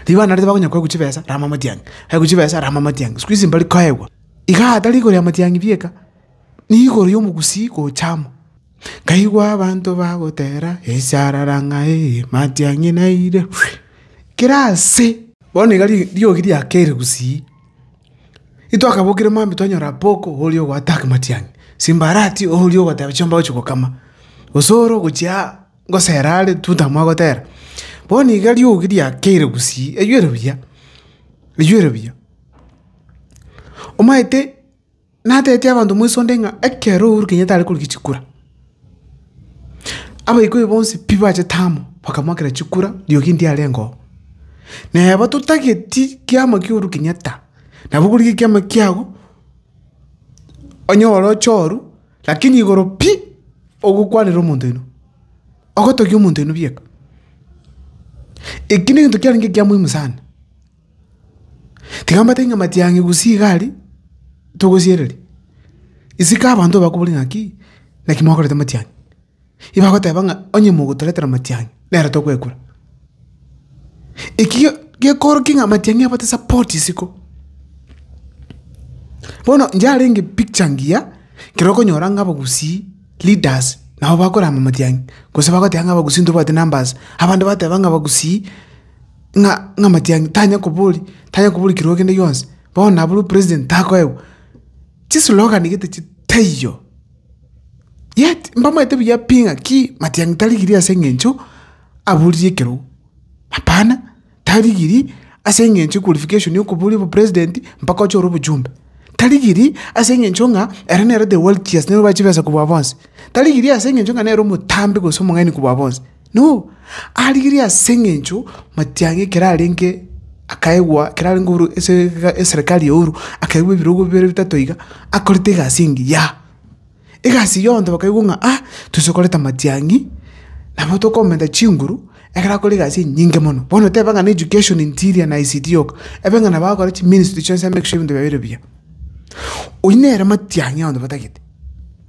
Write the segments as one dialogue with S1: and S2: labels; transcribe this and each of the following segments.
S1: Rigo abana riria bakonya koegwa chibesa, rama amatiang'i, baegwa chibesa, rama amatiang'i, sikuizi mbari koegwa. Igaa tari igoro y'amatiang'i bieka, ni igoro y'omogusii gocha amo. Nkaigwa abanto bagotera, Esarara ng'ai, matiang'i naire, kera ase! Bono iga ri- riogi riakeire gusii. Itwakabokire maambia twanyora Apoko oria ogoattack matiang'i, Simbarati oria ogoteba chiomba ogochia gokama, Osoro gochia aa. gosera are totama gotera. Bono iga riogi riakeire gusii riywere buya, riywere buya. Omanyete natebeti abanto moisonde ng'a ekero Uhuru Kenyatta are korigia chikura, abaikoi bonsi pi bachete amo bakamwakera chikura riogi ndiarengeo. Neba totageti kiama kia Uhuru Kenyatta, nabo okorigia ekiama kiago, onyore ochoru. Lakini igoro pi ogokwanera omonto oino, ogotogia omonto oino bieka, eki negento kiarenge ekia moimu sana. Tiga mbatebie ng'a matiang'i gusii iga aria togosiereria, isiko abanto bakobori ng'aki, naki mwakorete matiang'i. Ibagoteba ng'a onye mogotoretera amatiang'i, nere tokwekura. Eki ge- gekoorokia ng'a amatiang'i abate support isiko. Bono inche arenge picture ngiya, ekero okonyora ng'a abagusii, leaders, nabo bakorama amatiang'i, gose bagoteba ng'a abagusii ntobwati numbers, abande bateba ng'a abagusii ng'a ng'a amatiang'i tanya kobori tanya kobori kirwa kende gionsi, bono nabo president takoegwa. Chislogan gete chi taiyo. Yet mbamaete buya pi ng'aki Matiang'i tarigirie ase engencho aboririe ekerogo? Hapana, tarigirie ase engencho ya qualification ya okoboria obopresident mpaka oche ore obochumbe. Tarigirie ase engencho ng'a ere nere the wealthiest nigo obae chibesa kobua bonsi. Tarigirie ase engencho ng'a nere omotambe gose omong'aini kobua bonsi. No, arigirie ase eng'encho matiang'a ekero arenge akaegwa ekero arenge oboru ase eserekari ya Uhuru, akaigwa ebirogo bibere bitato iga, akorete egasi engiya. Egasi eyio abanto bakaigwa ng'a ah, toise koreta matiang'i, nabo tokomenta chinguru, ekero akore egasi enyinge mono. Bono tebe ng'a na education, interior na ICT yoka, ebe ng'a nabo agokora chiministry chionsi amake sure ebinto biaye bire buya. Oyio nere matiang'i abanto batagete.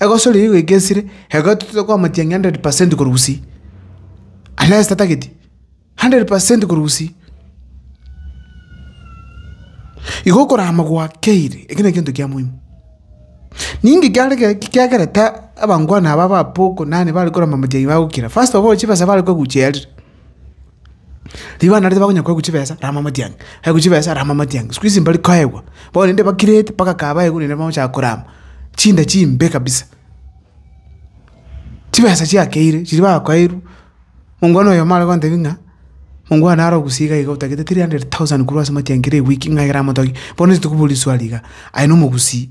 S1: Egosori eyio goika esire, ekero totoete koamotienyi ng'a hundred percent korwa gusii, unless tatageti, hundred percent korwa gusii. Igo okorama gwakeire, ekio nekento kia moino. Ninki kiare kere ki kiakerete abangwana aba ba Paul Konani bare korama motienyi bagokira? First of all chibesa bare koeguchia yarire. Rigo narete bakonya koegwa chibesa rama motiang'i, baegwa chibesa rama motiang'i, sikuizi mbari koegwa, bono rende bakirete mpaka kaa baegwa rende bagochaka korama, chinda chimbe kabisa. Chibesa chiakeire chiria bakoeirwe, mongwana oyo omare gontebia ng'a mongo oyo nare ogusii iga iga otagete three hundred thousand korwa ase motiang'i kera ewiki ng'a ekero amotogie, bono ntokoboria swali iga, aye nomogusii.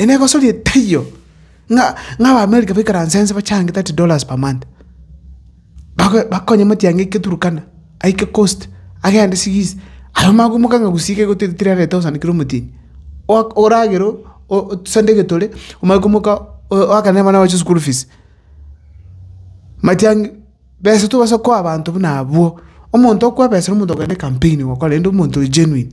S1: Inee gosoria taiyo, ng'a ab'Amerika baikaranse ense bachange thirty dollars per month, babe bakonye matiang'i aike Turkana, aike coast, agende sigisi, aye omagomoka ng'a gusii iga egotete three hundred thousand kera omotienyi, oak oragere o- o- osande egetore, omanye komoka o- oakane abana baye school fees. Matiang'i, besa tobasa koa abanto buna abwo, omonto okwa besa na omonto okogenda ecampaign gokora rende omonto oye genuine.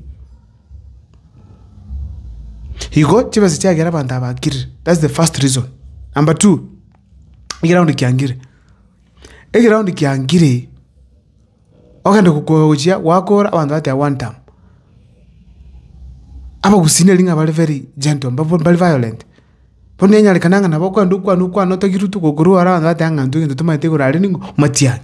S1: Igo chibesa chiagera abanto aba bakirire, that's the first reason. Number two, egeroundi kiangire, egeroundi kiangire ogende gokoa gochia gwakoora abanto bateba one term. Abagusii nari ng'a bare very gentle, mbabo mbari violent. Bono nenyarekana ng'a nabo okwenda okwane okwane otagire otuko okorwa aro iga oteba ng'a intwe egento tomanyete igoro aria ning'o omatiani.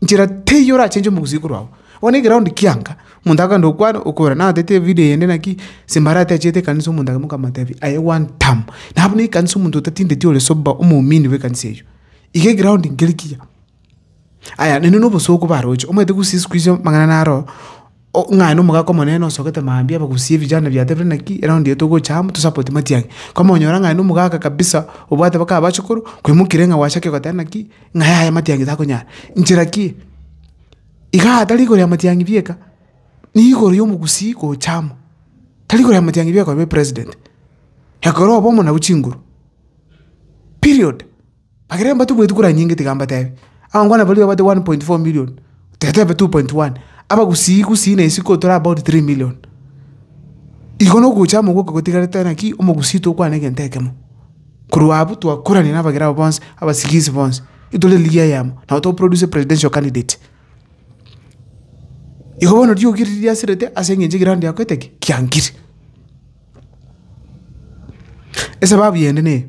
S1: Nchera teiyo orachenche omogusii korwa agwo. Bono egeroundi kianga, omonto akogenda okwana okora naye otagete evideo eyende naki simba aratechete ekanisa omonto aye mokamotebia aye one term. Nabo nekanisa omonto otatindeti ore sober omominni bw'ekanisa eywo. Iga egeroundi nkeri kiya. Aya naende nobosooku baroche, omanyete gose isiko iso amang'ana naro o- ng'a aye nomogaka omonene osogete mambia bagosie vijana biatebire naki, eraundi eye togocha amo tosapoti matiang'i. Komonyora ng'a aye nomogaka kabisa, obwate mpaka abachukuru, kwaimokirie ng'a gwachake goteba naki, ng'a yaya matiang'i takonyara. Nchera ki? Igaa tari igoro ya matiang'i bieka, ni igoro ya omogusii gocha amo, tari igoro ya matiang'i bieka okoba epresident, ekero obe omonyabu chinguru, period. Baria mbatumwetwe kora nyinga tiga mbatebi, abangwana baria babate 1.4 million, tetebe 2.1, abagusii gusii na isiko tore about 3 million. Igo nogocha amo gwoka gotigarete naki omogusii tokwane egento ekemo. Korwa abwo twakorania nabagera abo bonsi, abasigisi bonsi, itore eligi eyemo, nabo toproduce presidential candidate. Igo bono riogi riria riasirete ase eng'encho eground yakoete ki? Kiangire. Esababu yende neye.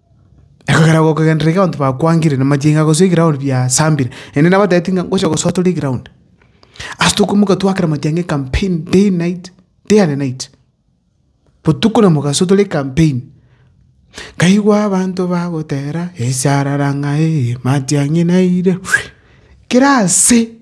S1: Ekogera gokogenderera iga abanto bakwangire na machenga gose eground biasambire, naende nabatebeti ng'a ngocha gosoa tore eground. Ase tokoimoka twakera matiang'a ecampaign day and night, day and night, botuko na mogaso tore ecampaign. Nkaigwa abanto bagotera esarara ng'aee matiang'i naire kera ase.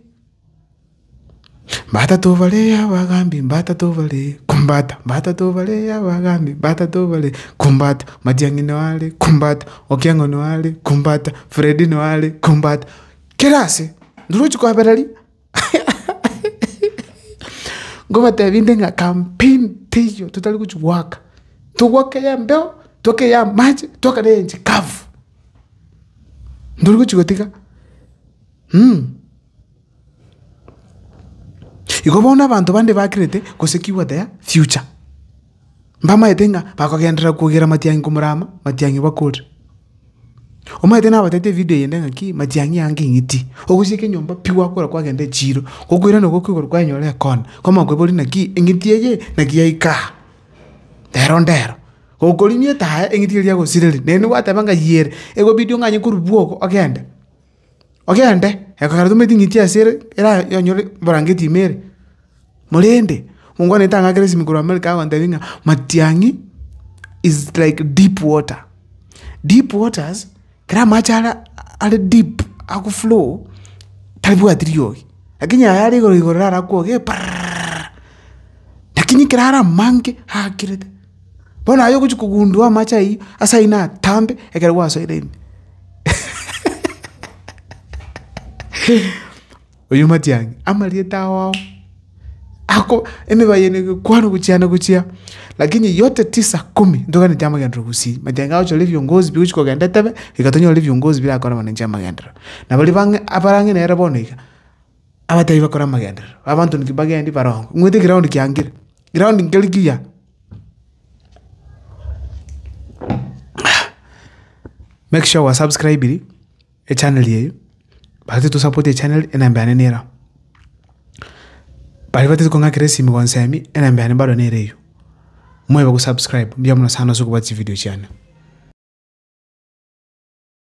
S1: Batato bare abagambi, batato bare kumbata, batato bare abagambi, batato bare kumbata, matiang'i noare kumbata, okieng'o noare kumbata, fredi noare kumbata, kera ase ndorochi kwabera ria ngobatebi nde ng'a campaign teiyo totari gochi goaka, togoaka ya embeo, togoaka ya amache, togoaka na enche kavu, ndori gochi gotiga. Igo bono abanto bande bakerete gosekigwa their future, mbamaete ng'a bakogenderera kogera matiang'i komorama, matiang'i bakore. Omanyete nabatebitie evidio eyende ng'aki matiang'i ange eng'iti, ogosieka enyomba pi gwakora kwagenda echiro, gokoirana igo okigora kwanyora ekona, kwamanya koiboria naki eng'iti eye naki yaika aa, rero ndero. Gokorimia etaaya eng'iti eria yagosireria, naende gwateba ng'a yie ere, egobidia ong'anye korwa bwogo ogende. Ogende, ekeroria tomanyeti ng'ai chiase ere eranyore ebrangeti ime ere. Korende, mongwanete ang'e akere esimi korwa America agontebia ng'a matiang'i is like deep water. Deep waters, kera amache ara are deep ako flow, tabwati riogi, lakini aya are igoro igoro rara akwoge parrrrrrr, lakini kera are amange aakirete. Bono aye ogochia kogundua amache ayio, ase ayio natambe ekero gwasoire ime. Oyio matiang'i, amarieta ao ao, ako emeba yaino egekwanu gochia na gochia, lakini yote tisa kumi ntoganeti amagenderero gosii. Matiang'i agochora ebiongozi bi ogochia kogenda etebe, iga tonyore ebiongozi birakore amanencho amagenderero. Na baria bang'e abarang'e nere bono iga. Abatebi bakore amagenderero, abanto inki bagendi barongo, ng'wete egeroundi kiangire, egeroundi nkeri kiya. Make sure gwasubscribiri echaneri eyio, baria titosapotie echaneri, enamba yane nero agwo. Baria batari kong'akera esimi gonsemi, enamba yane bado nere eyio. Mobe gosubscribe, mbuya mono sana ase okobuati chividio chiane.